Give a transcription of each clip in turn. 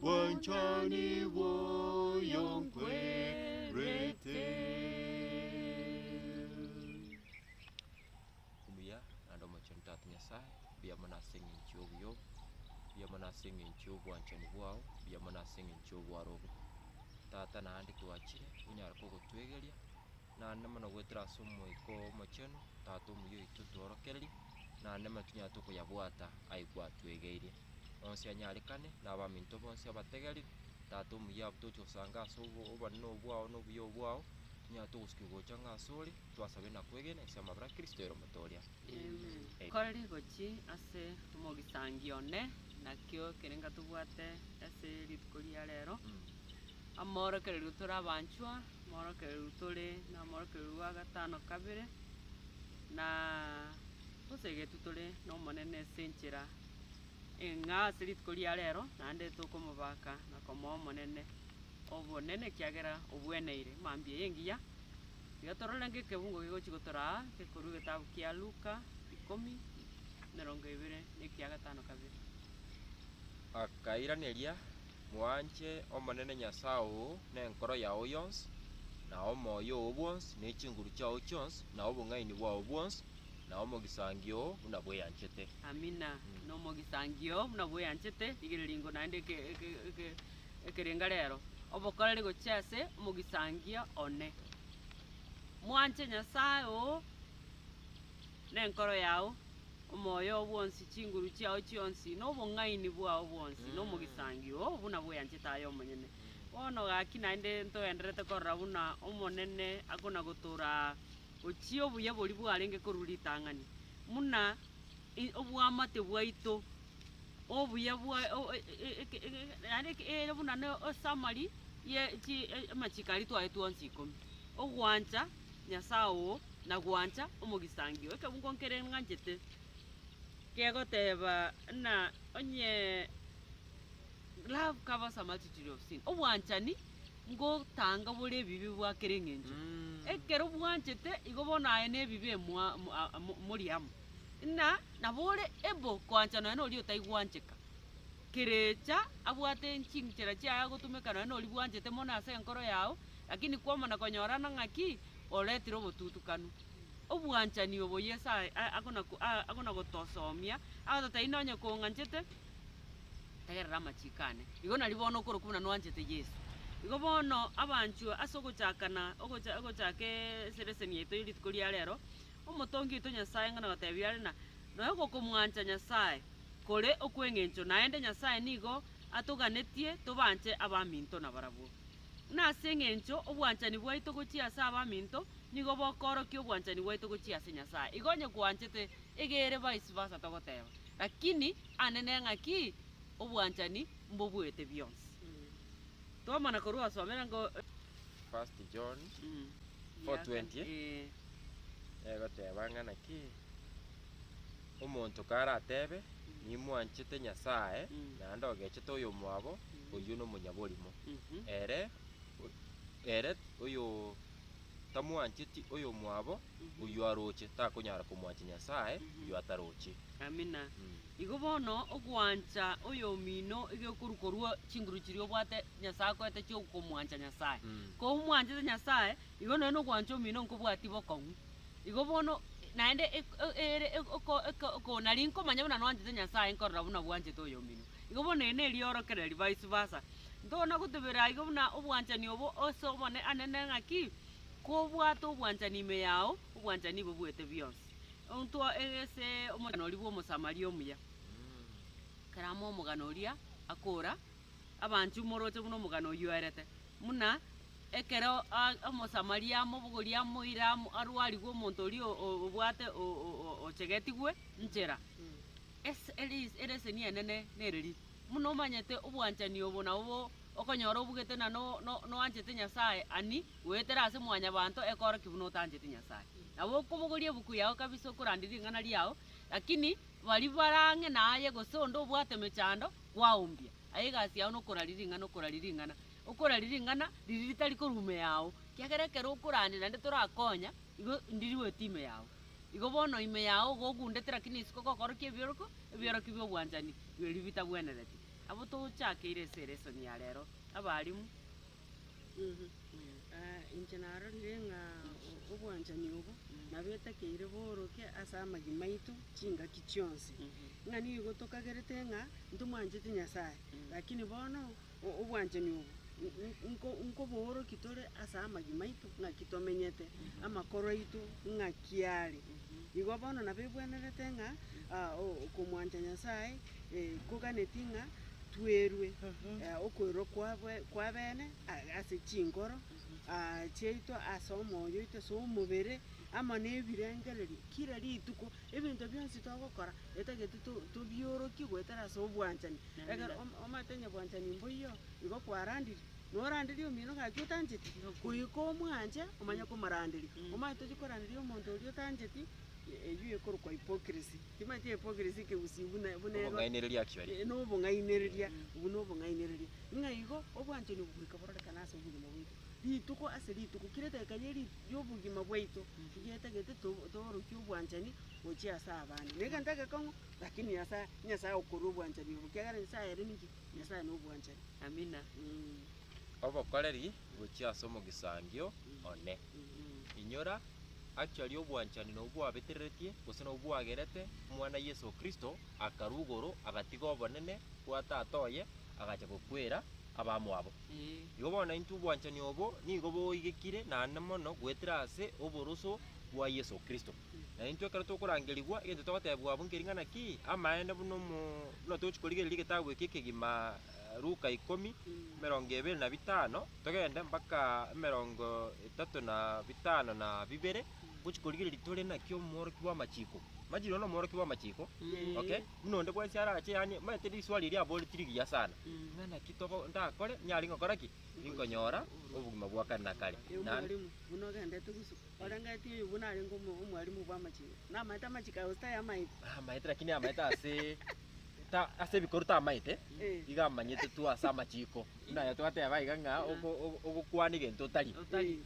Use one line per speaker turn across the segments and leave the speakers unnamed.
Bwanchani bwoyo nkwerete.
Omuya naende omochenu Tata Nyasae, mbuya mono ase eng'encho y'obuya obo, mbuya mono ase eng'encho y'obwanchani bwao, mbuya mono ase eng'encho y'obwaro obo. Tata naende twachire onyare kogotwegeria, Naende mono goetera ase Omoika Omochenu, Tata omuya oito, tworokererie, naende mono tinyarete okoyabwata ayio gwatwegeirie. Onsi anyarekane, na abaminto bonsi abategerire, Tata omuya, abwo togochia gosanga ase obo- obonene obo bwao na obuya obo bwao, tinyarete ogosukigwa gocha ng'a ase ore, twasabe na kwegena inse y'amabera a Kristo ere omote oria. Amen.
Koreri gochi ase omogisangio one, nakio kerenga tobwate ase rituko ria rero, amorokererio tore abanchwa, Omworokereru tore nomworokereru bwa gatano kabere, na tosegetwe tore n'Omonene ase enchera eng'a ase rituko ria rero naende tokomobaka na komoa Omonene obonene ekiagera obweneire mambia eye engiya. Iga torore ng'ekebungo gegochia gotora aa gekorwa egetabu kia Luka ikomi emerongo ebere na ekiagatano kabere. Akairaneria,
Mwanche Omonene Nyasae oo nenkoro yao yonsi, na omoyo oo bwonsi, ne chinguru chiao chionsi, na obong'aini bwao bwonsi, na omogisangio oo buna bweyanchete. Amina.
Na omogisangio oo buna bweyanchete, rigereria ingo naende eke, eke, eke, ekerenga rero, obokoreri gochia ase omogisangio one. Mwanche Nyasae oo nenkoro yao. Omoyo oo bwonsi, chinguru chiao chionsi, na obong'aini bwao bwonsi, na omogisangio oo buna bweanchete aye omonyene. Bono gaki naende ntogendererete korora buna Omonene akona-gotoora aa, ochie obuya boria bwarenge korwa ritang'ani, buna i- obwamate bwaito, obuya bwa o- o- e- e- eke- e- e- naende eke ere buna ne esummary ye chi- e- amachiko aria twaye twonsi ikomi, ogwancha. Nyasae oo, na gwancha omogisangio. Ekebungo nkere ng'anchete kegoteeba ng'a onye love covers a multitude of sin, obwanchani ngotanga bore ebibe bwa kera eng'encho. Ekero bwanchete igo bono aye na ebibe mwa- mo- a- mo- mori amo. Ng'a nabo ore able koanchana nonya noria otaigwancheka. Kerecha abwate chinchera chiaye agotumeka nonya noria bwanchete mono ase enkoro yao, lakini kwamana konyorana ng'a ki? Oretire obotutukanu. Obwanchani obo Yeso ae- a- akona ko- a- akona gotosomia, agote tari nonye kong'anchete, tegerera amachiko ane. Igo nari bono okorokwa buna nwanchete Yeso. Igo bono abanchwa ase ogochakana ogocha ogochaka eesereseni yaito ye rituko ria rero. Omotongi oito Nyasae ng'a nagoteebia are na noe gokomwancha Nyasae kore okw'engencho, naende Nyasae nigo atoganetie tobanche abaminto nabarabwo. Ng'a ase engencho obwanchani bwaito gochia ase abaminto nigo bokoorokia obwanchani bwaito gochia ase Nyasae. Igo onye kwanchete egere vice versa togoteeba, Lakini ande ne ng'aki obwanchani mbobuete bionsi. Twamana korwa osomera ng'a. First
John Mm. 4:20. Ee. egoteba ng'a naki omonto karatebe nimwanchete Nyasae Mm. naende ogechete oyomwabo Mhm. oyio nomonyaborimo. Mhm. Ere o- ere oyo tamwancheti oyomwabo Mhm. oyio aroche takonyara komwancha Nyasae Mhm. oyio ataroche. Amina. Mm.
Igo bono ogwancha oyomino egekorwa korwa chinguru chiria obwate Nyasae akoete chi'okomwancha Nyasae. Komwanchete Nyasae, igo nonye nokwancha omino nkobwatia bokong'u. Igo bono naende ek- e- ere eko- oko- eko- oko nari nkomanya buna nwanchete Nyasae nkorora buna bwanchete oyomino. Igo bono ere neriorokereri vice versa. Ntona gotebera igo buna obwanchani obo ase obone ane ne ng'aki, kobwate obwanchani ime yao, obwanchani nigo bwete bionsi. Ontwa egese omogeni oria bw'Omosamaria omuya. Keramo omogani oria akora. abanchwe moroche buna omogano oyio oerete, buna ekero Omosamaria amobogori amoira arwarigwe omonto oria obwate ochegetigwe nchera, ereseni enene nereri, buna omanyete obwanchani obo nabo okonyora obugete na noanchete Nyasae ani goetera ase mwanyabanto ekorokia buna otancheti Nyasae. Nabo okobogoria ebuku yao kabisa okoranderia ring'ana riao, lakini baria bare ang'e naye gose onde obwate emechando. kwaombia. Aye egasi yao nokoraria ring'ana, okoraria ring'ana, okoraria ring'ana riria ritari korwa ime yao, ekiagera ekero okorania naende torakonya, igo ndirue ete ime yao. Igo bono ime yao iga ogundete rakini isiko gokorokia ebioroko, ebiorokia bia obwanchani, biri bitabwenereti. Nabo tochakeire ase eresoni ya rero, abalimu.
Inche narorire ng'a obwanchani obo nabo etakeire boroke ase amagima aito chingaki chionsi, ng'a nigo tokagerete ng'a ntomwancheti Nyasae, lakini bono obwanchani obo nko- nkobooroki tore ase amagima aito ng'aki tomenyete, amakoro aito ng'aki are. Igo bono nabo ebwenerete ng'a okomwancha Nyasae. Nkoganetie ng'a twerwe okoirwa kw'abene ase chinkoro chiaito, ase omoyo oito, ase omobere, amo nebirengererio kira rituko. Ebinto bionsi togokora etagete tobiorokie goetera ase obwanchani. Ekero omanyete onye bwanchani mboiyo, igo kwarandirie, noranderie omino gaki otancheti, goika omwanche omanye komoranderia. Omanyete tochia koranderia omonto oria otancheti. Eyio ekorokwa hypocrisy. Timanyeti hypocrisy kegusii buna buna ero- Obong'ainereria akio aria.
Eh, nobong'ainereria,
obwo nobong'ainereria. Ng'a igo, obwanchani obwo goika bororekane ase obogima bwaito, rituko ase rituko, kera edageka ye ri- yobogima bwaito, nigo etagete to- toorokie obwanchani gochia ase abande. Na egento egekong'u, lakini Nyasaye, Nyasaye agokorera obwanchani obo, ekiagera Nyasaye aye nere ninki? Nyasaye nobwanchani. Amina. Mm.
Obokoreri. gochia ase omogisangio one. Inyora actually obwanchani nobwo bwabetereretie gose nobwo bwagerete omwana Yeso Kristo akarwa igoro agatiga obonene bwa tata oye agacha gokwera abamwabo. Igo bono intwe obwanchani obo nigo boigekire naende mono goetera ase oboroso bwa Yeso Kristo. Na intwe ekero tokorangerigwa egento togotebwa abwo nkering'ana ki? Amaene buna omo buna tochi korigereria egetabu eke ekegima Luka ikomi, emerongo ebere na bitano, togende mpaka emerongo etato na bitano na bibere, gochia korigereria tore naki omworokia bw'amachiko. Imagine one omworokia bw'amachiko, okay? Buna onde bwensi arache yaani omanyete riswali erio aboreti rigiya sana. Ng'a naki togo ndakore nyare ngokora ki? Nkonyora obogima bwa kare na kare. Ee, Na- omwalimu buna
ogendete gusu orengetie oyo buna arenge omo- omwalimu bw'amachiko namaete amachiko aye gose tayamaete amaete lakini amaete ase
ta ase ebikoru tamaete, iga amanyete tu ase amachiiko. Buna aye twateba iga ng'a oko- oko- ogokwana egento otari.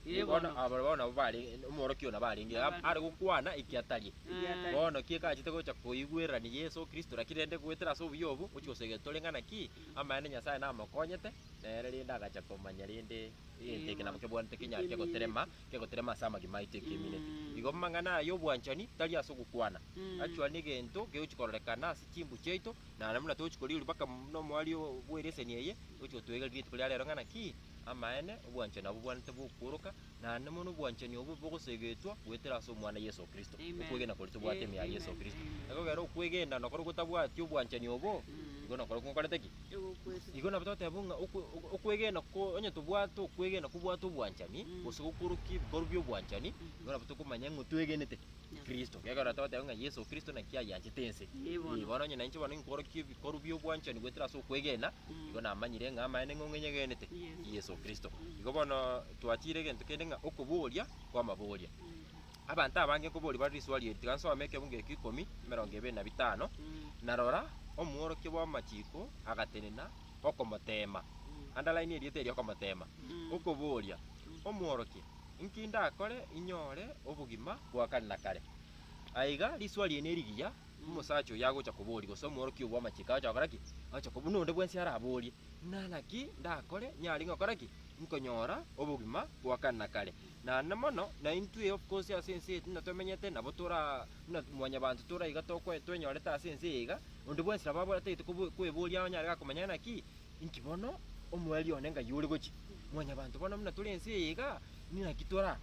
Ee, Bono bono. aba bono nabo bare omworokia oyo nabo arenge iga, are gokwana eki atari. Ekiatari. Bono ki ekachete gocha koigwererani Yeso Kristo, lakini rende goetera ase obuya obwo, gochia gose getore ng'a naki amaene Nyasae namokonyete, nere rende agacha komanya rende egento eke nabo kebwanete kinyare kegoterema kegoterema ase amagima aito ekemineti. Igo amang'ana aya y'obwanchani tari ase ogokwana actually negento kegochi kororekana ase chimbu chiaito na buna togochi korigereria mpaka buna omoari bw'ereseni eye ogochi gotwegereri rituko ria rero ng'a naki amaene obwanchani abwo bwanete bokworoka naende mono obwanchani obwo bogosegetwa goetera ase omwana Yeso Kristo okwegena koria tobwate ime ya Yeso Kristo. Ekogera okwegena nokoro gotabwati obwanchani obo igo nokoro nkokorete ki? egokwete. Igo nabo toteba ng'a okwe- okwe- okwegena ko- onye tobwate okwegena kobwate obwanchani, Mm. gose gokorokia ebikorwa bia obwanchani, Mhm. igo nabo tokomanya ng'a twegenete Nabo. Kristo. Ekeagera toteba ng'a Yeso Kristo naki ayanchete ense. Eh, bono. Eh, bono onye nainche bono inkorokia ebikorwa bia obwanchani goetera ase okwegena, Mm. igo namanyire ng'a amaene ng'a ong'enyegenete Yeso. Yeso Kristo. Mm. Igo bono twatiire egento kende ng'a okoboria kw'amaboria. Mm. Abanto abange nkoboria bare risuo ri'eri, tiga nsome ekebungo ekio ikomi nemerongo ebere na bitano, na rora, omworokia bw'amachiko agatenena okomoteema, underline erieta erio okomoteema, okoboria, Omworokia, inki ndakore inyore obogima bwa kare na kare? Aiga risuo ri'ene rigiya, omosacha oyio agocha koboria, gose omworokia oyio bw'amachiko agocha gokora ki? Agocha koboria, buna onde bwensi araborie, Naki ndakore nyare gokora ki? Nkonyora obogima bwa kare na kare. Naende mono naintwe gose ase ense eye tinde tomenyete, nabo tora buna mwanyabanto tore iga tokwe twenyorete ase ense eye iga, onde bwensi nabo abore atagete kobu- kweboria onye are gakomenya naki, inki bono omoerio one ngai ore gochia? Mwanyabanto bono buna tore ense eye iga, ninaki tora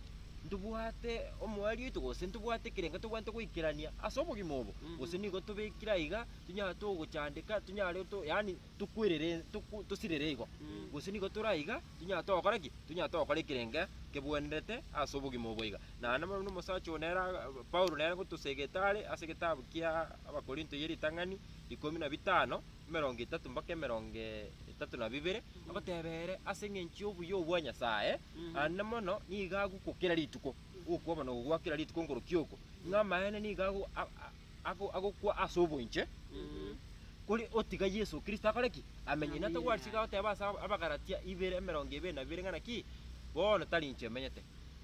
ntobwate omoerio oito gose ntobwate ekerengo tobwate goikerania ase obogima obo? Mm. Gose nigo tobekire aiga, tonyare togochandeka, tonyare to yaani tokwirere, toku- tosirere igo, gose nigo tore aiga, tonyare togokora ki? Tonyare togokora ekerenge kebwenerete ase obogima obo iga. Naende buna omosacha oo nere aga- aga- Paulo nere gotosegete are ase egetabu kia Abakorinto ye ritang'ani ikomi na bitano, emerongo etato mpaka emerongo etato na bibere, agoteba ere ase eng'encho y'obuya obwo bwa Nyasaye, naende mono nigo agokwa kera rituko, ogokwa bono gokwa kera rituko nkorokia oko, ng'a amaene nigo ago- a- a- ago- agokwa ase oboinche, kore otiga Yeso Kristo akore ki? Amenye. Inwe togwarisigwe agoteba ase ab- Abagalatia ibere emerongo ebere na bibere ng'a naki? Bono tari inche omenyete,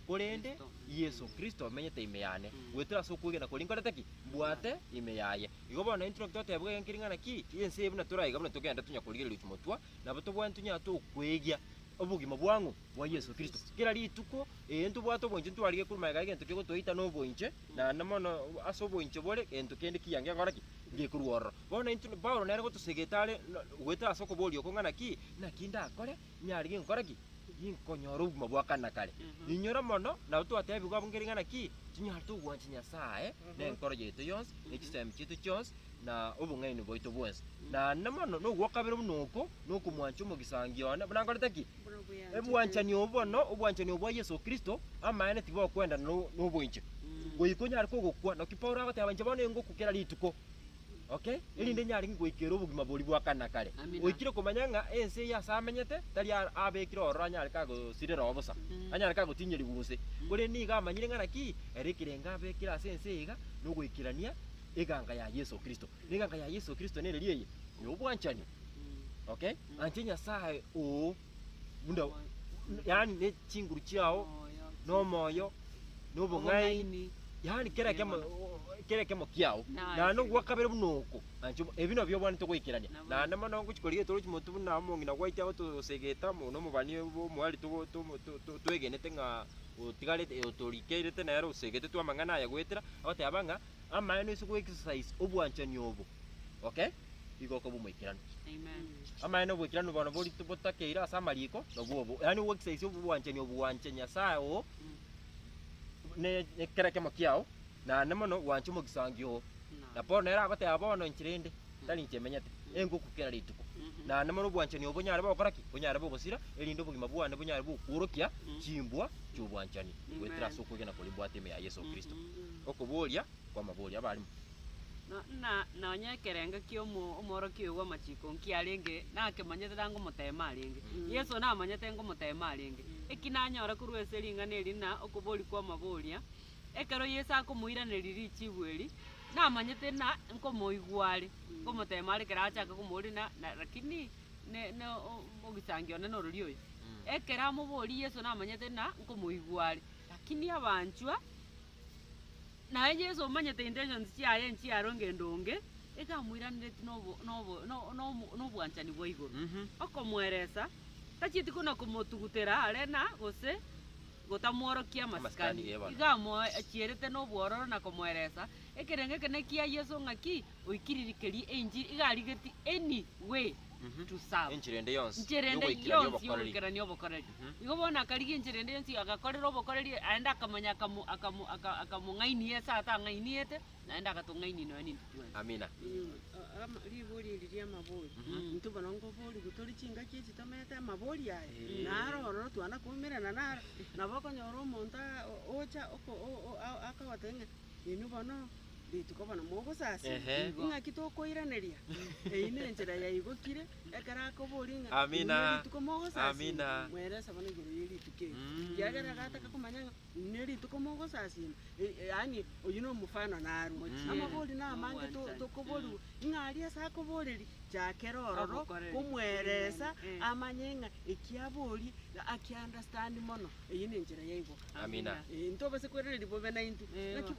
korende Yeso Kristo omenyete ime yane, goetera ase okwegena koria nkorete ki? Mbwate ime yaye. Igo bono intwe naki toteba egento keria ng'a naki? Ense eye buna toraiga buna togenda tonya korigereria chimotwa, nabo tobwate tonya tokweigia obogima bwang'u? bwa Yeso Kristo. Kera rituko eye ntobwate oboinche ntwarige korwa magega egento kegotoita noboinche, naende mono ase oboinche bore gento kende kiya ngekora ki? Ngekorwa ororo. Bono intwe Paulo nere gotosegete are na goetera ase okoboria oko ng'a naki naki ndakore nyare ginkore ki? Ginkonyore obogima bwa kare na kare. Inyora mono nabo twatebigwa abwo nkeri ng'a naki tinyarete ogwancha Nyasaye ne enkoro yaito yonsi, ne chisemi chiaito chionsi, na obong'aini bwaito bwonsi. Naende mono nogwa o kabere buna oko nokomwancha omogisangio one buna nkorete ki? Ebwanchani obo bono, obwanchani obwa Yeso Kristo, amaene tibokwendana no- noboinche. Goika onyare kogokwa, naki Paulo agoteba inche bono ingokwa kera rituko, okay? Erinde nyare ng'o goika ere obogima boria bwa kare na kare. Amina. Oikire komanya ng'a ense eye ase amenyete, tari a- abekire ororo anyare kagosirereo bosa, anyare kagotinyerigwa gose. Korende nigo amanyire ng'a naki, ere ekerengo abekire ase ense eye iga, nogoikerania eganga ya Yeso Kristo. Na eganga ya Yeso Kristo nere riaye? Nobwanchani, okay? Nanche Nyasae oo, buna yaani ne chinguru chiao, na omoyo, na obong'aini, yaani kera ekemo kera ekemo kiao, naende ogwa kabere buna oko. Nanche obo- ebi nabio obwanete goikerania. Naende mono ngochi korigia getoro chimotu buna omong'ina gwaito agotosegeta, mo- na omobani obo omwari togo- tomo- to- to- twegenete ng'a otigarete otorikeirete nere osegete twa amang'ana aya goetera, agoteba ng'a Amaene ase go exercise obwanchani obo. Okay? Igo okaba omoikeranu.
Amaene oboikeranu
bono bori botakeire ase amariko nobwo obo. Yaani o exercise obwanchani obo gwanche Nyasae oo ne ne kera ekemo kiao naende mono gwanche omogisangio oo. Na Paulo nere agoteba bono enchera ende. tari inche emenyete, engoku kera rituko. Naende mono obwanchani obo bonyare bogokora ki? Bonyare bogosira, erinde obogima bwane bonyare gokworokia chimbwa chi'obwanchani goetera ase okwegena koria mbwate ime ya Yeso Kristo. Okobooria kw'amaborio. Abarimo. Na,
na, nonya ekerengo ki'omo, omworokia oyo bw'amachiko nki arenge? Nakemanyete tangomoteema arenge. Yeso namanyete ngomoteema arenge. Eki nanyore korwa ase ring'ana eri na okobooria kw'amaboria, Ekero Yeso akomoiraneria richibu eri, namanyete na nkomoigwa are, nkomoteema are ekero aachake komooria na na rakini ne ne o ogichangio one norori oyo. Ekero amoboria Yeso namanyete na nkomoigwa are, rakini abanchwa naye Yeso omanyete intentions chiaye nchiaro engendo onge, iga amoiraneretie na obo na obo na o- na omo na obwanchani bwa igoro, okomweresa tachieti kona komotugutera are na gose. gotamworokia amasikani, iga amoachierete nobwororo na komoeresa ekerengo ekenene kia Yeso ng'aki oikiririkerie enchiri iga arigeti any way to serve. Enchera ende yonsi Enchera ende
y'ogoikerania yonsi obokoreri. y'ogoikerania
obokoreri. Igo bono akarigia enchera ende yonsi agakorera obokoreri aende akamanya akamu- akamu- aka- akamong'ainia ase atang'ainiete, Naende agatong'ainia inoyo nintwe twensi. Amina.
Eh, ama-
ribori eri ri'amabori intwe bono nkoborigwa tore chingaki echi tomete amabori aya naro ororo twana koumerana naro nabo okonyora omonto a- o- ocha oko- o- o- a- akogotebia ng'a inwe bono rituko bono mogosasima Ehe. ing'aki
tokoiraneria
eyio nenchera yaigokire ekero akoboria ng'a Amina. inwe rituko
mogosasima Amina.
mwerese
bono igoro ye
rituko eri Mm. ekiagera agataka komanya ng'a Ne rituko mogosasima, yaani oyio nomofano narwo. Amabori namange tokoborua, ng'a aria ase akoboreri chakera ororo komweresa amanye
ng'a eki
aborie aki understand mono, eyio nenchera ya igo. Amina. Intobase
kwereri
bobe naintwe.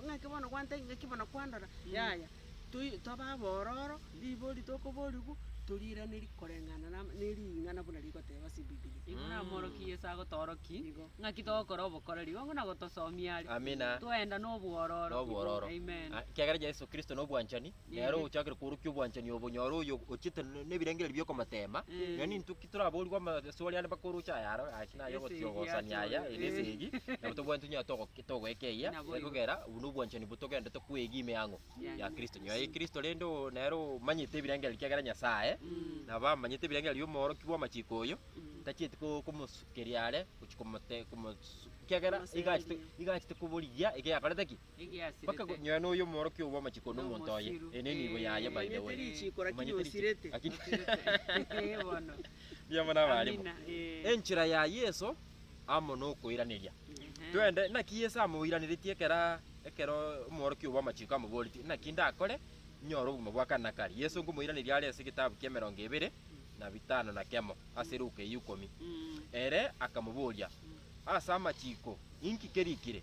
Naki bono
gwantai, naki
bono kwandora, yaya. toi- tobe abororo, ribori tokoborigwa, toriiranerie koreng'ana na ame- ne ring'ana buna rigoteba ase Ebibilia. Igo namorokia Yeso
agotoroki, Igo. ng'aki togokora
obokoreri,
onge na gotosomia are. Amina. Twaenda
nobwororo.
Na obwororo. Amen. Ah,
Ekiagera
Yeso Kristo
na obwanchani, nere ogochakire kworokia obwanchani obo, nyora oyo ochiete ne- nebirengererio biokomoteema, Mm. yaani intwe Titoraboorigwe amaswali ande mpaka orooche aya aro gaki na aye Ase eye ogotiogosania ase aya
ore. ere ase
egi, nabo
tobwate
tonyare togo- togoekeia Naboigo. ekogera obu
nobwanchani bo
togenderete kwegima eang'o Ya ya Kristo. Nyuma ya
Kristo
rende o- nere omanyete ebirengererio ekiagera Nyasae nabo amanyete ebirengererio bia omoorokia bw'amachiko oyo, tachieti ko- komosukeria are gochia komote- komosu- ekiagera iga achete- Komosuriria.
iga achete koborigia
ekio yakorete ki? Bakagonyera noyo omworokia
obwamachiko
na omonto oye, ere ne
nibo
yaye by
the
way. Omanyete riche,
lakini
Riamwe na
abarimu. Enchera
ya
Yeso amo nokoiraneria. Twende, naki Yeso amoiraneretie ekero ekero omworokia obwamachiko amoboretie, Naki ndakore nyore obogima bwa kare na kare? Yeso nkomoiraneria are ase egetabu kia emerongo ebere na bitano na kemo ase Luka eye ikomi. Ere akamoboria, Ase amachiko inki kerikire?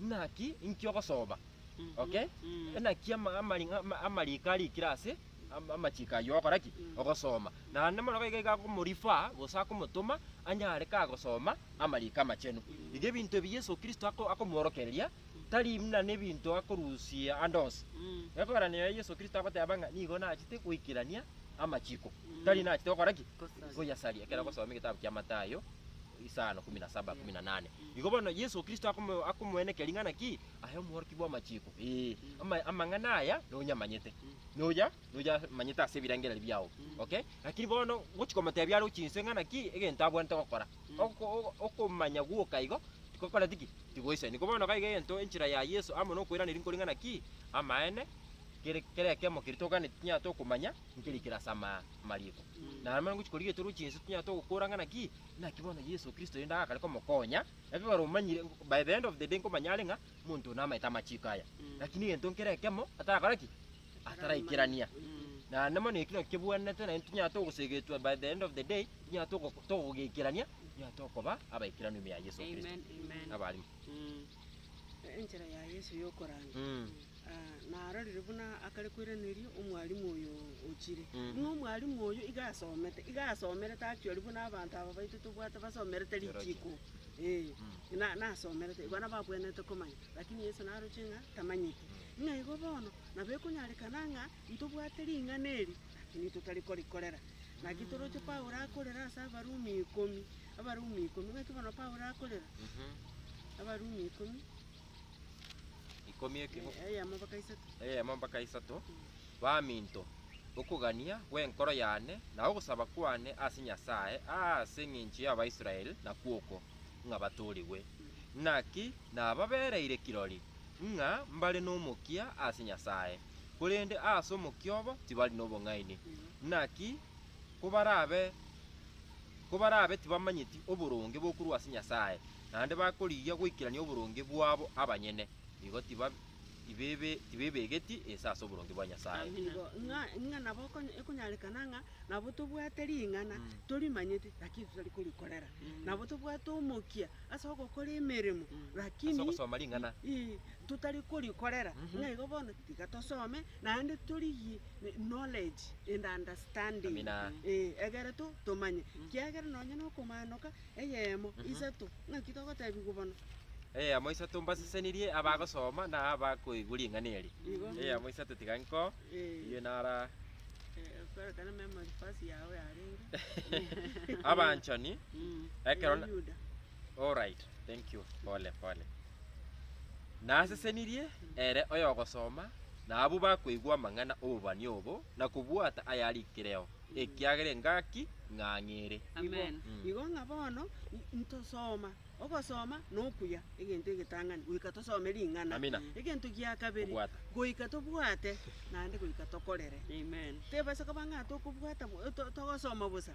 Naki inki ogosoba? Okay? Naki ama- amari- ama- amariko arikire ase am- amachiko ayio ogokora ki? Ogosoma. Naende mono gaiga iga akomorifer gose akomotoma anyare kagosoma amariko amachenu. Iga ebinto ebi Yeso Kristo ako- akomworokereria tari muna nebinto akorusia ande onsi. Ekegeranio yaye Yeso Kristo agoteba ng'a nigo nachete goikerania amachiko, tari nachete gokora ki? Gosaria. Goyasaria ekero agosoma egetabu kia Matayo. Isaya 17, 18. Igo bono Yeso Kristo akomo- akomoenekia ring'ana ki? Aye omworokia bw'amachiko. Ee, ama- amang'ana aya nonyamanyete. Noya, noya manyete ase ebirengererio biao. Okay? Lakini bono ngochi komotebia aroche inse ng'ana ki egento abwenerete gokora. Oko- o- okomanya gwoka igo, tigokoreti ki? Tigoisani. Igo bono gaiga egento enchera ya Yeso amo nokoiraneria nkori ng'ana ki? Amaene, kere kera ekiamo keria toganetie tinyara tokomanya, nkeri kere ase ama- amariiko. Na amo ngochi korigia etoroche inse tinyara togokora ng'ana ki? Naki bono Yeso Kristo oyonde agakare komokonya, ekero omanyire, by the end of the day nkomanya are ng'a monto one amaete amachiiko aya. Lakini egento nkere ekemo atarakora ki? Ataraikerania. Naende mono ekio nakio kebwanete naende tonyare togosegetwa by the end of the day, tonyare togo togogekerania, tonyare tokoba abaikeranu ime ya Yeso Kristo. Amen. Amen. Abarimo. Mm.
Enchera ya Yeso y'okoranga. Aa, narorire buna akare kweraneria omwalimu oyo ochire. Buna omwalimu oyo iga asomete, iga asomerete actually buna abanto aba baito tobwate basomerete richiko. Ee, na nasomerete, igo nabo abwenerete komanya. Lakini Yeso naroche ng'a tamanyeti. Ng'a igo bono, nabo ekonyarekana ng'a ntobwate ring'ana eri, lakini totari korikorera. Naki toroche Paulo akorera ase Abarumi ikomi. Abarumi ikomi, baitu bono Paulo akorera Abarumi ikomi, Ikomi ekemo, eh, eyemo
mpaka isato. eyemo mpaka isato, Baminto, okogania gw'enkoro yane na ogosaba kwane ase Nyasae aase engencho y'Abaisrael nakwo oko, ng'a batoorigwe. Naki nababereire kirori ng'a mbare nomokia ase Nyasae, korende aase omokia obo tibari nobong'aini. Naki kobarabe kobarabe tibamanyeti oboronge bokorwa ase Nyasae, naende bakorigia goikerania oboronge bwabo abanyene, nigo tiba tibebe tibebegeti ense ase oboronge bwa Nyasae. Igo ng'a ng'a
nabo okonye ekonyarekana ng'a nabo tobwate ring'ana torimanyeti lakini titari korikorera. Nabo tobwate omokia ase ogokora emeremo lakini Ase ogosoma ring'ana.
ii totari
korikorera. Ng'a igo bono tiga tosome naende torigie knowledge and understanding, Amina. ee, egere to, tomanye, kiagera nonye nokomanoka eyemo isato, ng'aki togotebigwa bono? Eyemo
isato mbasesenirie abagosoma na abakoigwa ring'ana eri. Igo. Eyemo isato tiga nko, Ee. eyio nara Eh, kwerekana
memory verse yao yarenge. abanchani,
ekero na- Yuda.
All right,
thank you, pole pole. Nasesenirie ere oyogosoma, na abwo bakoigwa amang'ana 'obobani obo, na kobwata ayarikireo, ekiagera engaki ing'ang'ere. Amen. Igo,
igo ng'a bono n-
ntosoma, ogosoma na okuya, egento egetang'ani, goika tosome ring'ana. Amina. Egento gia
kabere,
Kobwata. goika
tobwate,
naende goika tokorere. Amen. Tebasa
koba ng'a
tokobwata bo- to- togosoma bosa,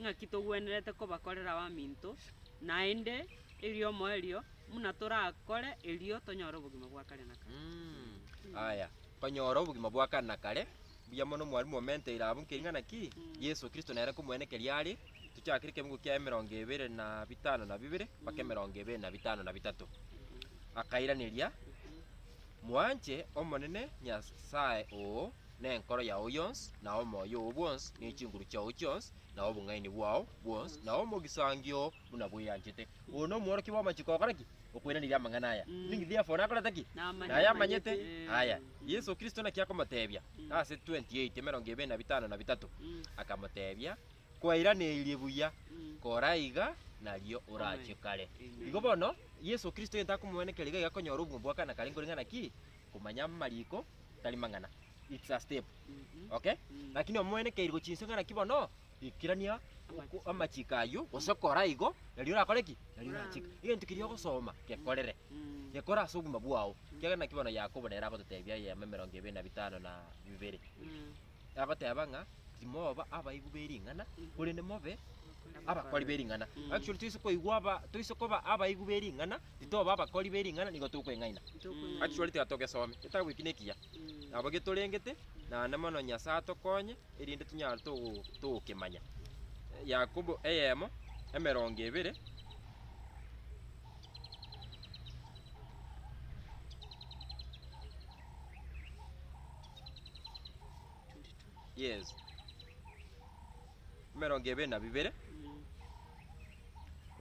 ng'aki togwenerete kobakorera abaminto, naende eriomoerio buna torakore erio tonyore obogima bwa kare na kare. Aya,
konyora obogima bwa kare na kare. Mbuya mono mwarimu omente ira abwo nkering'ana ki? Yeso Kristo nere komwene keria are. Tochakere ekemogo kia emerongo ebere na bitano na bibere mpaka emerongo ebere na bitano na bitato. Akairaneria, Mwanche Omonene Nyasae oo nenkoro yao yonsi, na omoyo oo bwonsi, ne chinguru chiao chionsi, na obong'aini bwao bwonsi, na omogisangio oo buna bweanchete. Oyo nomworokia bw'amachiko ogokora ki? Okwenanirie amang'ana aya. Ninki Theofilo nakorete ki? Nayamanyete aya. Yeso Kristo naki akomotebia? Ase 28, emerongo ebere na bitano na bitato, akamotebia, Kwairaneirie buya, kora iga, nario orache kare. Igo bono, Yeso Kristo egento akomoenekera iga iga akonyora obogima bwa kane kare nkoreng'ana ki? Komanya amariko tari mang'ana. It's a step. Okay? Lakini omoenekeiri gochia inse ng'ana ki bono? Ikerania oko- amachiko ayio, gose kora igo, nario orakore ki? Nario orache kare. Egento keria ogosoma, gekorere. Gekore ase obogima bwao. Ekiagera naki bono Yakobo nere agototebia eyemo emerongo ebere na bitano na bibere. agoteba ng'a timoba abaigwa be ring'ana, korende mobe abakori be ring'ana. Actually toise koigwa aba toise koba abaigwa be ring'ana, titoba abakori be ring'ana nigo tokweng'aina. Actually tiga togesome, getabu eki nekiya, nabo getorengete, naende mono Nyasae atokonye erinde tonyare togo togokemanya. Yakobo eyemo, emerongo ebere, Yes. Emerongo ebe na bibere.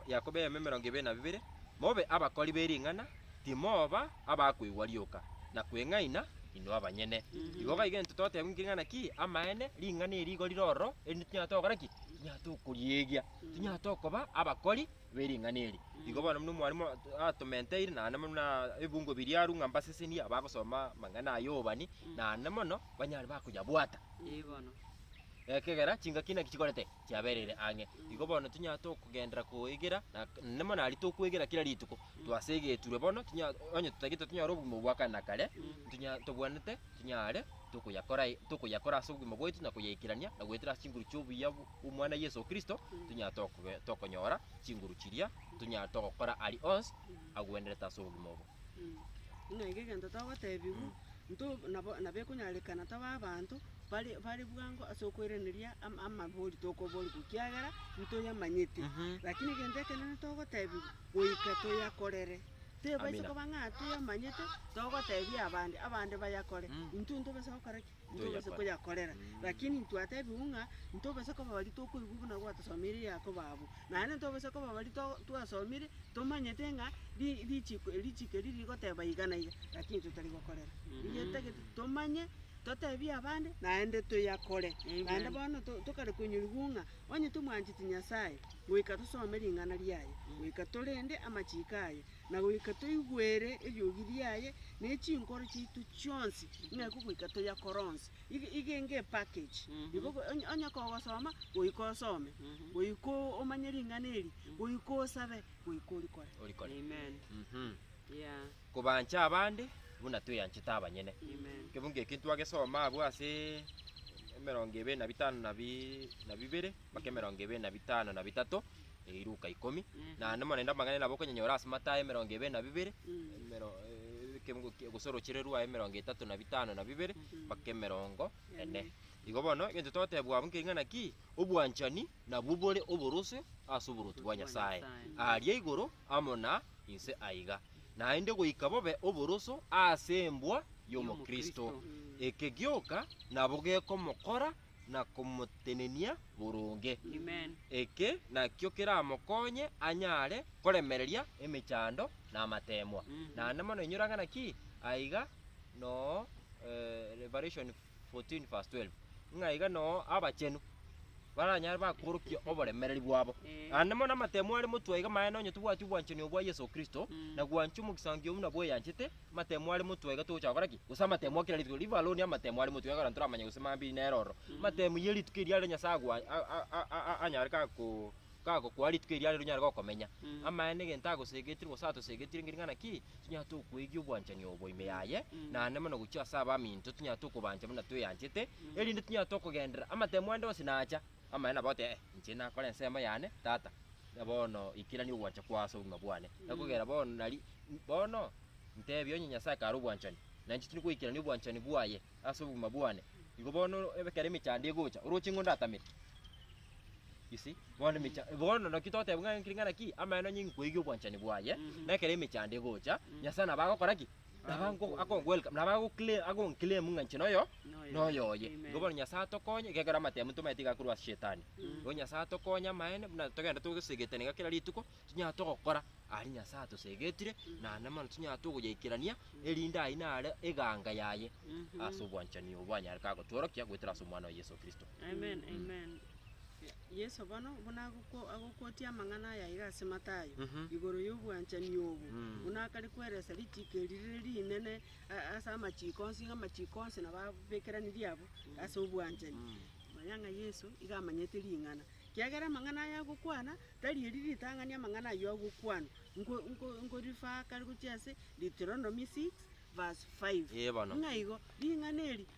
Yakobo eyemo emerongo ebe na bibere. Mobe abakori be ring'ana, timoba abakoigwa rioka, na kweng'aina inwe abanyene. Igo iga egento toteba inki ng'ana ki amaene, ring'ana eri igo rire ororo, erinde tinyara togokora ki? Tinyara tokoriegia. Tinyara tokoba abakori bwe ring'ana eri. Igo bono buna omwarimu at- atomenteire, naende buna ebungo biria arue ng'a mbasesenie abagosoma amang'ana aya obani, naende mono banyare bakoyabwata. Igono.
Ekegera
chingaki naki chikorete chiabereire ang'e. Igo bono tonyare tokogenderera koegera na naende mono aria tokwegera kera rituko, twase egeturwa bono tonya onye totagete tonyare obogima obwa kare na kare, tonya tobwanete tonyare tokoyakora e tokoyakora ase obogima bwaito na koyaikerania na goetera ase chinguru chia obuya bu- Omwana Yeso Kristo, tonyare tokobe- tokonyora chinguru chiria, tonyare togokora aria onsi agwenerete ase obogima obo. Ng'a eke
egento togotebiwa, nto nabo nabo ekonyarekana tobe abanto bare bare bwango ase okoiraneria am- amabori tokoborigwa ekiagera ntoyamanyeti. Mhm. Lakini egento ekenene togotebiwa, goika toyakorere. Tebase Amina. koba ng'a toyamanyete, togotebia abande, abande bayakore, intwe ntobasa gokora ki? ntobasa koyakorera. Lakini intwatebigwe ng'a ntobasa koba baria tokoigwa buna gwatosomeire Yakobo abwo. Naende ntobasa koba baria to- twasomire tomanyete ng'a ri- richiko eri richiko eri rigoteba iga na iga, lakini intwe tari gokorera. Eyio etagete tomanye, totebie abande, naende toyakore. Amen. Naende bono to- tokare konyorigwa ng'a onye tomwancheti Nyasaye, goika tosome ring'ana riaye, goika torende amachiko aye, na goika toigwere eriogi riaye, ne chinkoro chiaito chionsi, ng'eko goika toyakore onsi. Ige- iga enge epackage, igo ogo- onye- onye kogosoma, goika osome, goika o- omanye ring'ana eri, goika osabe, goika orikore. Orikore. Amen. Mhm.
Yeah. Kobancha
abande, buna tweyanchete abanyene. Amen. Ekio bunga ekio
ntwagesoma
abwo ase emerongo ebere na bitano na bi- na bibere, mpaka emerongo ebere na bitano na bitato, Eye Luka ikomi, naende mono naende amang'ana nabo okonyenyora ase Matayo emerongo ebe na bibere, emero- eh, ekemo- ki- gosorochire Rua emerongo etato na bitano na bibere, mpaka emerongo ene. Igo bono, egento togotebwa abwo nkering'ana ki? Obwanchani nabwo bore oborosio ase oboruoti bwa Nyasae, aria igoro amo na inse aiga, naende goika bobe oboroso ase embwa y'omokristo. Eke gioka nabo gekomokora na komotenenia boronge. Eke
nakio
keramokonye anyare koremereria emechando na amateemwa. Naende mono inyora ng'a naki aiga noo Revelation 14 verse 12, ng'a iga noo abachenu baranyare bakworokia oboremereri bwabo. Naende mono amateemwa are motwe iga maene onye tobwati obwanchani obwa Yeso Kristo, na gwancha omogisangio buna bweyanchete, Amatemo are motwe iga togocha gokora ki? Gose amatemo akira rituko riva aroni amatemo are motwe iga ekero ntoramanye gose mambiri nere ororo. Amatemo ye rituko eria are Nyasae agwa a- a- a- a- a- anyare kako kagokoa rituko eria are ronyare gokomenya. Mm. Amaye negento agosegetire gose atosegetire engeri ng'a naki? Tonyare tokoegia obwanchani obo ime yaye, Mm. naende mono gochia ase abaminto tonyare tokobancha buna tweyanchete, Mm. erinde tonyare tokogenderera amatemo ande onsi nacha. Amaene nabo goteeba, Eh, inche nakore ensemo yane, tata, na bono ikerania ogwancha kwao ase obogima bwane. Na kogera bono nari, bono, ntebia onye Nyasae kare obwanchani, na inche tindi goikerania obwanchani bwaye ase obogima bwane, igo bono ekero emechando egocha, oroche ng'o ndatamere? You see? Bono emecha, bono naki togoteba ng'a ring'ana ki? Amaene onye inkoigia obwanchani bwaye, na ekero emechando egocha, Nyasae nabo agokora ki? Nabagoclaim ng'a inche noyo noyoye. Igo bono Nyasae atokonye gekero amatemo tomaete iga korwa ase Shetani. Igo Nyasae atokonye amaene buna togende togosegeterana iga kera rituko tonya togokora aria Nyasae atosegetire naende mono tonya togoyaikerania erinde ayio naro eganga yaye ase obwanchani obwo anyare kagotworokia goetera ase Omwana oye Yeso Kristo.
Yeso
bono buna agokuotia amang'ana aya aiga ase Mathayo, igoro y'obwanchani obo, buna akare kweresa ritiiko eri rire rinene ase amachiiko onsi, ng'a amachiiko onsi nabo abekeraniri abwo ase obwanchani. Manya ng'a Yeso iga amanyete ring'ana, kiagera amang'ana aya agokwana tari eri ritang'ani amang'ana ayio agokwanwa. Nko- nko- nkorifaka gochia ase Deuteronomy six verse five. Ee bono. Ng'a igo, ring'ana eri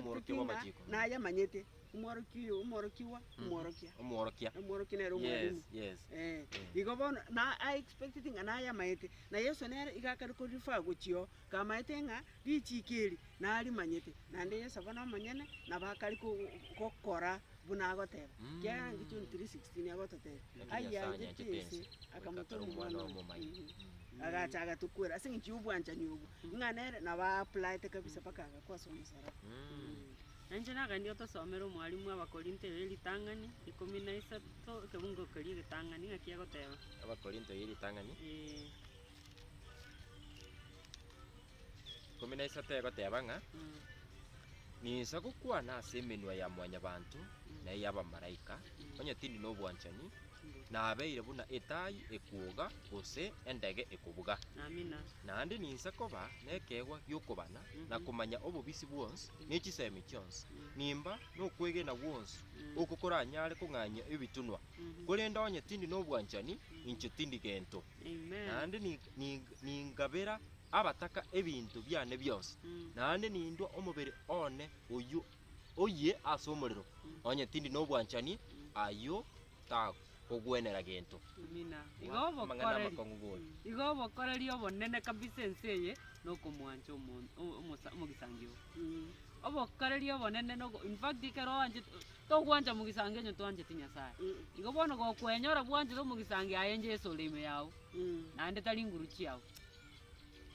Omworokia bw'amachiko. Mhm. Omworokia. Yes, yes. Eh. Igo bono na a expecteti ng'a nayamaete, na Yeso nere iga akare ko refer gochio kamaete ng'a richiko eri narimanyete, naende Yeso bono omonyene nabo akare ko- go- gokora. buna agoteba. Ekiagera nki John 3:16 agototebia? Ayianchete ense, akamotoma Omwana oye. Agacha agatokwera. Ase eng'encho y'obwanchani obwo, ng'a nere nabo aaplaete kabisa mpaka agakwa ase omosalaba. Nainche
nagaendie otosomere omwalimu Abakorinto eye ritang'ani ikomi na isato ekebungo keria egetang'ani ng'aki egoteba. Abakorinto eye ritang'ani.
Ee. ikomi na isato egoteba ng'a, Ninsa gokwana ase emenwa ya mwanyabanto na ey'abamalaika, onye tindi nobwanchani, nabeire buna etaai ekwoga gose endege ekobuga. Amina. Naende
ninsa
koba nekeegwa gi'okobana na komanya obobisi bwonsi ne chisemi chionsi, nimba nokwegena gwonsi oko koranyare kong'anyia ebitunwa. Korende onye tindi nobwanchani, inche tindi gento. naende ningabera abataka ebinto biane bionsi, naende nindua omobere one oyio oyie ase omorero, onye tindi nobwanchani, ayio takogwenera gento.
Amang'ana amakong'u buna. Igo obokoreri obonene kabisa ense eye nokomwancha omonto omogisangio. Obokareria obonene nogo in fact ekero oanchete togwancha mogisango onye twancheti Nyasaye. Igo bono gokwenyora bwanchete omogisango aye Jesu ore ime yao naende tari nguru chiao.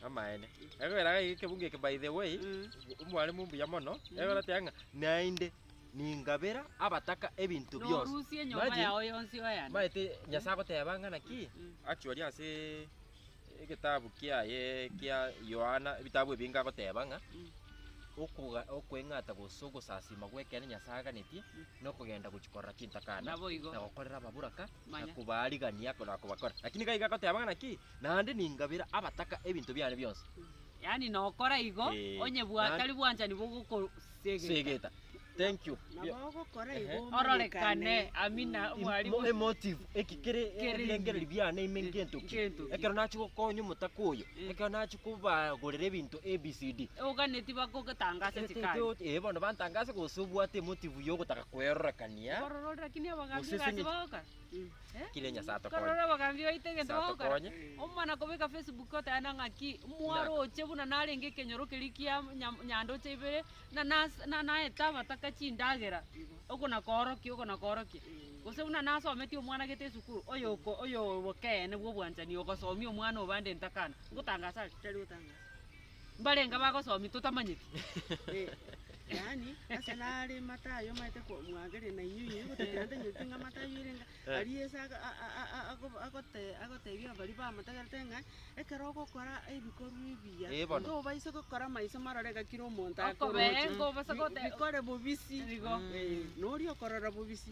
Amaene. Ekogera iga ekebungo eke by the way, Mm. omwalimu mbuya mono, egototeba ng'a naende ningabera abataka ebinto bionsi. Norusie enyomba Imagine, yao
yonsi oeane. maete Nyasae agoteba
ng'a naki, actually ase Egetabu kiaye kia Yohana, ebitabu ebinge agoteba ng'a okoga- okweng'ata gose ogosasima gw'ekiana Nyasae aganetie nokogenda gochia korora chintakana Naboigo. na gokorera ababoraka na Manya. kobaarigania na kobakora. Lakini gaiga agoteba ng'a naki, naende ningabera abataka ebinto biane bionsi. Yaani
nokora igo, Eh, onye bwa na- tari bwanchani bogokosegeta. Segeta.
Thank you. Nabo ogokora Ehe. igo
Ororekane, omanyekane.
amina, Im- omwarimu. mo- emotive eki
kere Kere ebirengereri ime. biane ime Eh, ngento ki ngento ki. ekero nachi gokonya omotaka oyo Eh. ekero nachi kobagorera ebinto abcd Oganeti
bakogotangasa Te- te- chikari. te- eh, bono bantangase
gose obwate emotive ya ogotaka kwerorekania Korora lakini abagambia
Gose gasi senye- bagoka. Kire Nyasae
atokonye. Korora obogambi baito egento
Nyasae bagokora. atokonye. Omwana
kobeka
Facebook oteba ng'aki mwaroche buna narenge ekenyoro keria kia nya- nyandoche ibere na nas- na naete abataka chindagera oko na koorokia oko na koorokia. Gose buna nasometie omwana gete esukuru oyoko oyobokeene bwa obwanchani ogosomia omwana obande entakana. Ngotangasa are? Tari gotangasa.
Mbarenge
abagosomia totamanyeti.
Yaani, ase nare mata ayio maete ko- mwageria na inyuo inyuo gotebiana tanywetie ng'a mata ayio erenge Eh. aria ase aga- a- a- a- a- ago- agote- agotebia baria bamotegerete ng'a ekero ogokora ebikorwa ebiya, Eh, bono. tobaisa gokora maiso marore iga kera omonto Okobee, akororete. ngobasa Bi-
gote- Bikore bobisi.
Igo. Eh,
na oria okorora
bobisi,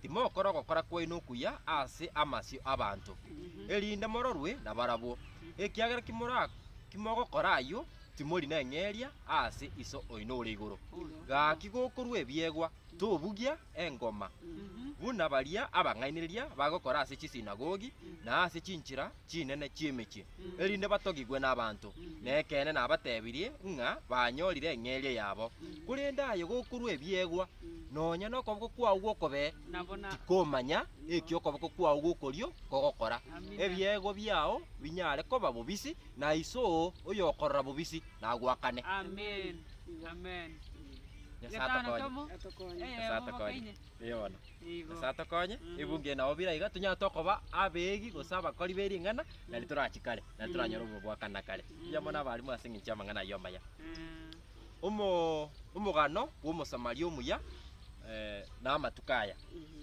Timokora ogokora kwaino okuya ase amasio 'abanto, erinde mororwe nabarabwo, ekiagera kimogokora ayio timori neng'eria ase Iso oino ore igoro. Gaki gokorua ebiegwa, tobugia engoma, buna baria abang'ainereria bagokora ase chisinagogi na ase chinchera, chinene chi'emechie, erinde batogigwe nabaanto. Na ekeene nabatebirie ng'a banyorire eng'eria yabo. Korende aye gokorwa ebiegwa, nonya nokoboko kwao gw'okobe tikomanya eki okoboko kwao gw'okorio kogokora. Ebiegwa biao binyare koba bobisi, na Iso oyokorora bobisi nagoakane.
Nyasae
atokonye. Nigo. Nyasae atokonye, ebunge nao bire aiga, tonyare tokoba abeegi gose abakori be ring'ana, na riria torachi kare, na riria toranyore obogoakana kare. Erio bono abarimu ase engencho y'amang'ana ayio amaya. Eh, Omo, omogano bw'omosamaria omuya, eh, na amatuko aya.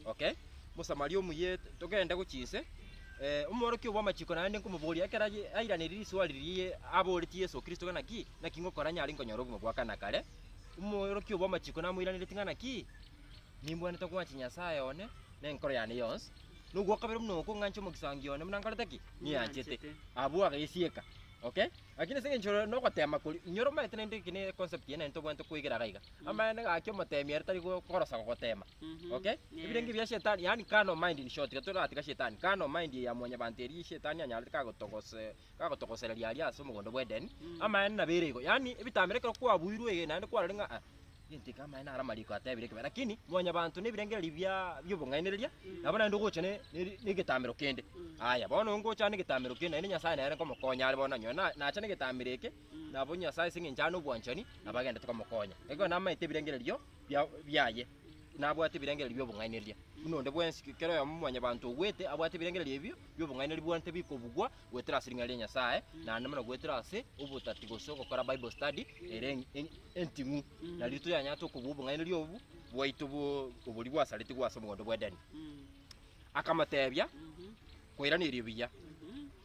Okay? Omosamaria omuya, togende gochia inse, eh, omworokia bw'amachiko naende nkomoboria ekero aye- airaneiri riswali riria aboretie Yeso Kristo ng'a naki, naki ngokora nyare nkonyore obogima bwa kana kare, omworokia bw'amachiko namoiraneretie ng'a naki, Nimbwanete ogwancha Nyasae one nenkoro yane yonsi, na ogwo kabere buna okong'ancha omogisangio one buna nkorete ki? Nianchete. Abwo agesieka. Okay? Lakini ase engencho ore nogotema koria, inyora omaete naende eke ne concept eye naende tobwanete koegera iga iga. Amaene gaki omotemi ere tari go- korosa gogotema. Okay? Ebirenge bia shetani, yaani carnal mind in short, iga toratiga shetani. Carnal mind ya mwanyabanto eria shetani anyarete kagotogosa Gagotogosereria aria ase omogondo bw'Edeni, amaene nabeire igo. Yaani, ebitambera ekero kwabuirwe iga, naende kwarorire ng'a ah, gento eke amaene are amariko atebire ekebae. Lakini mwanyabanto na ebirengererio bia bi'obong'ainereria, nabo naende ogocha ne- ne- negetambero kende. Aya, bono onde ngocha ande egetambero kende, naende Nyasae nere nkomokonya are bono nanyora na- nacha negetambero eke, nabo Nyasae ase eng'encho are nobwanchani, nabo agende tokomokonya. Ekero namaete ebirengererio bia- biaye. nabwate ebirengererio bi'obong'ainereria buna onde bwensi, kera oyomo mwanyabanto ogwete abwate ebirengererio ebio bi'obong'ainereria buna tibikobugwa goetera ase ring'ana ria Nyasae, naende buna goetera ase obotati gose ogokora Bible study ere en- enting'u. Nariroki toyanyarete okobua obong'ainereria obo bwaito bwo oboria bwasaretigwe ase omogondo bw'Edeni. Akamoteebia, Koirana erio buya,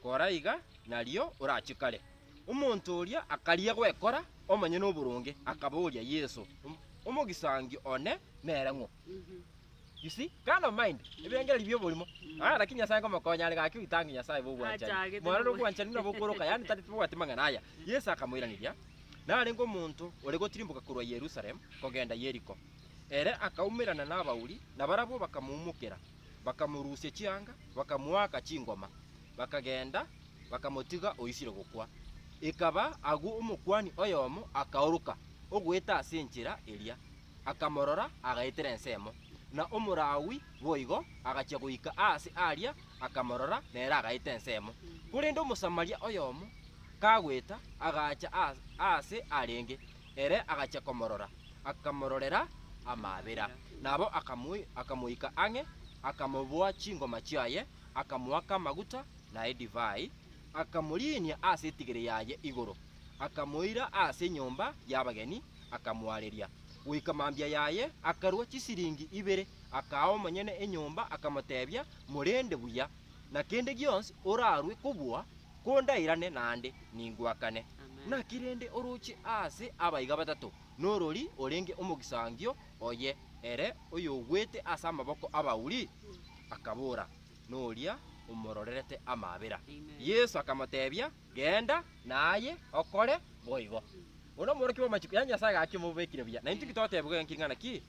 kora iga, nario orache kare. Omonto oria akaria gwekora omonyene oboronge, akaboria Yeso, Omogisangio, one nere ng'o? You see? Carnal mind, ebirengererio bi'oborimo. Ah, lakini Nyasae nkomokonya, are gaki oitange Nyasae bw'obwanchani. Achagete Mwarore nabwo- obwanchani buna bokoroka, yaani tari tibabwati mang'ana aya. Yeso akamoiraneria, Narenge omonto ore gotirimboka korwa Yerusalemu kogenda Yeriko. Ere akaumerana nabauri, na barabwo bakamoumokera. bakamorusia chianga, bakamoaka chingoma, bakagenda, bakamotiga oisire gokwa. Ekaba agwo omokuani oyomo akaoroka ogoeta ase enchera eria, akamorora, agaetera ensemo, na Omolawi boigo agachia goika aase aaria, akamorora, nere agaeta ensemo. Korende Omosamaria oyomo kagoeta, agaacha aase arenge, Ere agachia komorora, akamororera amaabera. Nabo akamoika ang'e, akamoboa chingoma chiaye, akamoaka amaguta na edivai, akamoriinia ase etigere yaye igoro, akamoira ase enyomba y'abageni, akamoareria. Goika mambia yaye akarua chisiringi ibere, akaa omonyene enyomba, akamoteebia, Morende buya, na kende gionsi orarue kobua kondairane naende ningwakane. Naki rende oroche aase abaiga batato, norori orenge omogisangio oye ere oyogwete ase amaboko abauri? Akabora, Noria omororerete amaabera. Yeso akamotebia, Genda, naye okore boigo. Oyo nomorokia bw'amachiko ya Nyasaye gaki omobekire buya. Naintwe inki totebigwa enki ng'a naki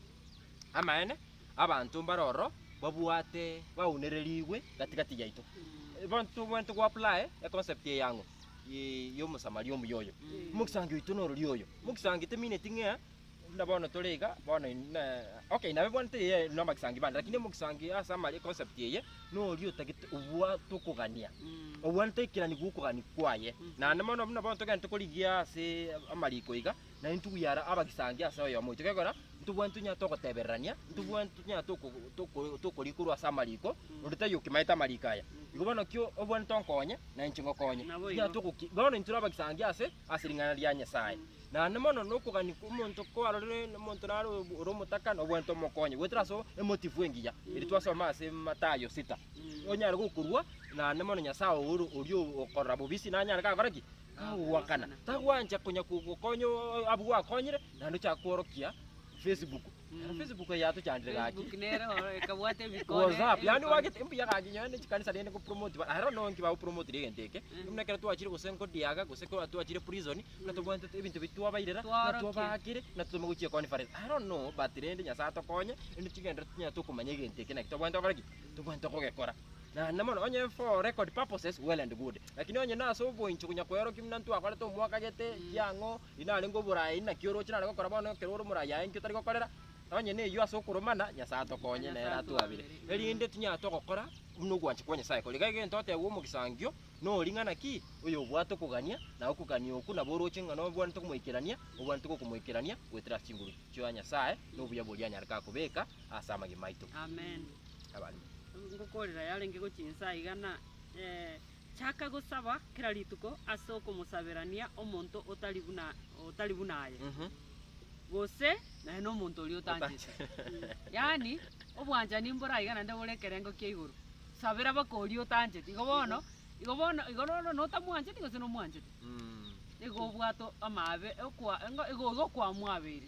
amaene? Abanto mbare ororo babwate baunererigwe gati gati yaito. Bono tobwenerete go apply econcept eye ang'o? Ii y'omosamaria omuya oyo. Mogisangio oito norori oyo. Mogisangio temineti ng'a buna bono tore iga bono in- na okay nabe bono teiyo namagisangio bande lakini omogisangio ase amari econcept eye noria otagete obwate okogania. Obwanete ekegani gokogani kwaye. Naende mono buna bono togenderete korigia ase amariko iga, na intwe bw'ara abagisangi ase oyomo oito. Gekogera intwe bwensi tonyare togotebererania, intwe bwensi tonyare toko- toko- tokori korwa ase amariko, onde taiyo okimaete amariko aya. Igo bono ki obwenerete onkonye, na inche ngokonye. Nabo Tonyare igo. togoki- bono intwe tore abagisangi ase ase ring'ana ria Nyasae. Naende mono na okogania kwa omonto kwarorire na omonto naro ore omotaka, nobwenerete omokonye goetera ase emotifu engiya, eri twasoma ase Mathayo sita. Onyare gokorua, naende mono Nyasae oro oria okorora bobisi nanyare gakore ki? Agogoakana, tagwancha konya kogokonya abwo gwakonyire, naende ochake kworokia Facebook. Nero Facebook eye yatochandire gaki. Facebook nere oro
ekabwata ebikone. WhatsApp, yaani ebikone. wagete
mbuya gaki nyowe ne chikanisa rende go promote ba ahero no nki bago promote ri egento eke. Mm. Buna ekero twachire gose nko diaga gose ko twachire prison na tobwante te- ebinto bi twabairera na Twaorokia. twabakire na totoma gochia conference. Ahero no but rende Nyasaye atokonye rende chigenderero tonya tokomanya egento eke naki tobwante gokora ki? Tobwante kogekora. Naende mono onye for record purposes well and good, lakini onye nase oboincho konya koerokia buna ntwakwarete omwaka gete kiang'o inarenge oborayi inaki oroche nare gokora bono ekero ore omorayi aye inki otari gokorera onye neyio ase okoromana Nyasae atokonye Nyasae nere atwabire atwabire. erinde tinyara togokora buna ogwancha kwa Nyasae kore iga egento otebwa omogisangio nori ng'ana ki oyobwate okogania na okogania okwo nabo oroche ng'a nobwanete komoikerania obwanete gokomoikerania goetera ase chinguru chia Nyasae nobuya boria anyare kakobeka ase amagima aito. Amen.
abarimo.
Ngokorera
yarenge gochia inse aiga, na chaka gosaba kera rituko ase okomosaberania omonto otari buna otari buna aye, gose naye na omonto oria otanchete. Yaani, obwanchani mbore aiga naende bore ekerengo kia igoro. Sabera baka oria otancheti. Igo bono, igo bono, igo bono notamwancheti gose nomwanchete, nigo obwate amaabe, okwa engo igo igo kwamwabeire.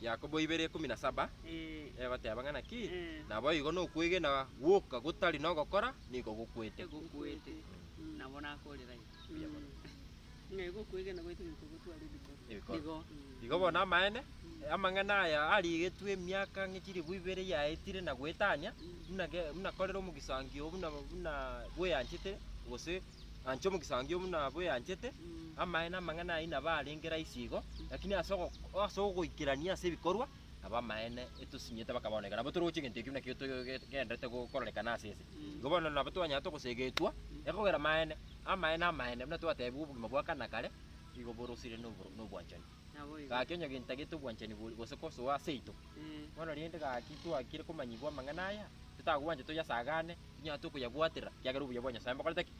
Yakobo ibere ikomi na saba, egoteba ng'a naki naboigo nokwegena gwoka gotari nogokora nigo gokwete. Egokwete.
Nabo nakorera iga. Mbuya mono.
Ng'a igo okwegena gwaito niko gotware ebikoro. Ebikoro.
Igo. Igo bono amaene, amang'ana aya arigetwe emiaka ng'e chilifu ibere yaetire na goetania, buna ge- buna korera omogisangio buna buna bweanchete, gose Anche omogisangio oyio buna bweanchete, amaene amang'ana ayio nabo arenge rahisi igo, lakini ase ogo- ase ogoikerania ase ebikorwa, nabo amaene etosinyete mpaka bono iga. Nabo toroche egento ekio buna ekio togenderete go- kororekana ase ense. Igo bono nabo twanyara togosegetwa, ekogera amaene, amaene amaene, buna twatebiwa obogima bwa kare na kare, igo borosire na oboro- na obwanchani. Naboigo. Gaki onye gintagete obwanchani bori gose kosoa aseito, Eh. bono rende gaki twakire komanyigwa amang'ana aya, titagwancha toyasagane, tinyara tokoyabwatera, kiagera obuya bwa Nyasae mbokorete ki?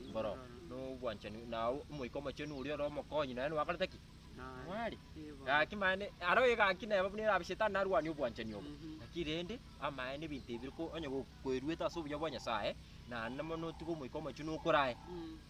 Mbororo. Nobwanchani na Omoika Omochenu oria ore omokonyi naye noakorete ki? Naye. Noare. Igo. Gaki mani, aro egaki neba buna erabe shetani narwanie obwanchani obo. Mhm. Lakini rende, amaene ebinto ebi biri ko- onye go- koeruete ase obuya bwa Nyasae, naende mono otige Omoika Omochenu okore aye. Mm.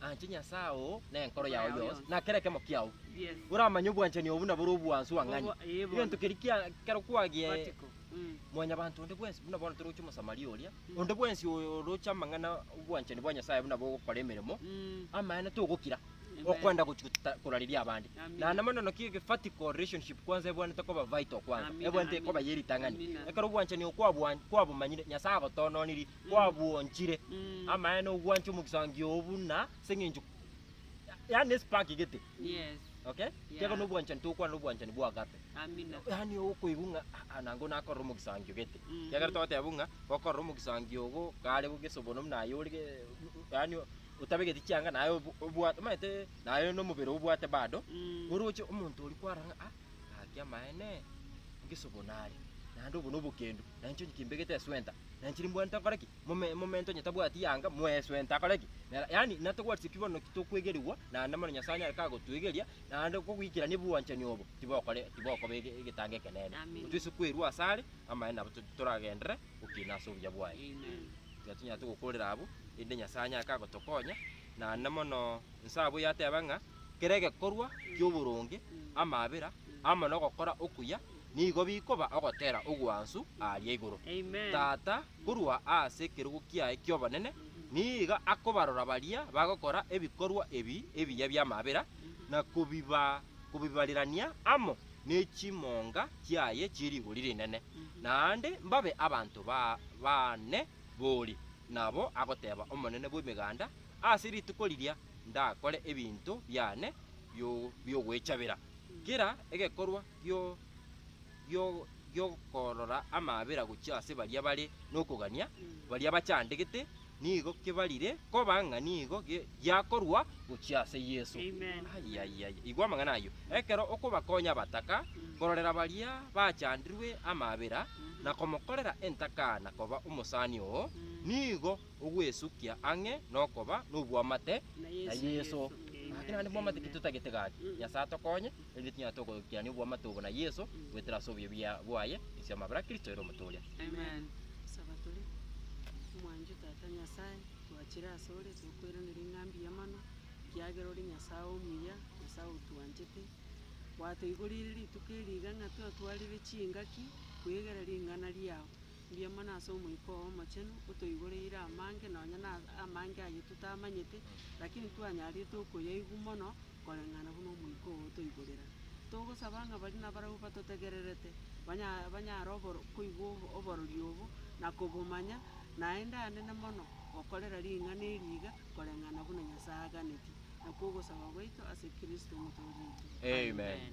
Anche Nyasae oo nenkoro yao yonsi, na kera ekemo kiao. Oramanye
obwanchani obo
nabore obwansu ang'ani. Egento keria kia kero kwagie
mwanyabanto
onde bwensi, buna bono toroche Omosamaria oria, onde bwensi oroche amang'ana obwanchani bwa Nyasae buna bogokora emeremo, amaene togokira okwenda gochi goteta korariria abande. Naende mono naki egefatiko, relationship, kwanza ebwanete koba vital kwanza, ebwanete koba ye ritang'ani. Ekero obwanchani oo kwabwa kwabomanyire, Nyasae agotoononirie, kwabwonchire Mm. amaene ogwancha omogisangio oo buna ase eng'encho yaani espark gete Yes. okay
Yeah. tiga
nobwanchani tokwana nobwanchani bwa agape Amina. yaani
okoigwa ng'a
"Ah, ah, nango nakorera omogisangio gete Mhm. kiagera togoteba buna gokorera omogisangio ogo kare bogesa obono buna aye ore ge- yaani otabegeti chianga naye obo- obwate omanyete naye nomobere obwate bado Mm. oroche omonto oria kwara ng'a "Ah, gaki amaene ngesa obono are naende obo nobokendu nainche onye kimbegete eswenta Nanchiri mbwenu tokore ki? Mome- Momento onye tabwati yanga, mweso ento akore ki? Nera- Yaani, natobwati ki bono ki tokwegerigwa, naende mono Nyasae nere kagotwegeria, naende kogoikerania obwanchani obo, tibokore tibokoba ege- egetango ekenene. Amina. Titwesi kwerua asare, amaene nabo to- toragenderere gokina ase obuya bwaye. Amen. Tiga tonyarete gokorera abwo, erinde Nyasae anyare kagotokonya, naende mono nse abwo yateba ng'a, kera egekorwa ki'oboronge, amabera, amo nogokora okuya, nigo bikoba ogotera ogwansu aaria igoro. Tata, korwa aase ekerogo kiaye ki'obonene, niiga akobarora baria bagokora ebikorwa ebi ebiya bi'amabera, na kobibarerania amo ne chimonga chiaye chie rigori rinene, naende mbabe abanto baane bori. Nabo agoteba Omonene bw'Emeganda, Ase rituko riria ndakore ebinto biane bi'ogwechabera. Kera egekorwa gi'okorora amaabera gochia ase baria bare nokogania, baria bachandegete, nigo kebarire koba ng'a nigo giakorwa gochia ase Yeso. Igwa amang'ana ayio. Ekero okobakonya abataka, kororera baria bachandirwe amaabera, na komokorera entaka na koba omosani oo, nigo. ogwesukia ang'e nokoba nobwamate na Yeso. Gaki naende bwamate ki totagete gaki? Nyasae atokonye, erinde tinyare togoikirania obwamate obo na Yeso, goetera ase obuya bia bwaye, ense y'amabera a Kristo ere omotooria. Amen.
Saba tore.
Omwancho Tata Nyasae, twachire ase ore, tokoiraneria ng'a mbuya mono, ekiagera ore Nyasae omuya, Nyasae otwanchete. Gwatoigorire rituko eri iga ng'a twatwarire chingaki kwegera ring'ana riao. Mbuya mono ase Omoika oo Omochenu, otoigoreire amange, nonya na amange ayio totamanyete, lakini twanyarete okoyaigwa mono koreng'ana buna Omoika oo otoigorera. Togosaba ng'a baria nabarabwo batotegererete, banya banyare oboro koigwa obo oborori obo, na kobomanya, naende anene mono gokorera ring'ana eri iga, koreng'ana buna Nyasae aganeti. Nakwo ogosaba gwaito ase Kristo Omotoori oito. Amen.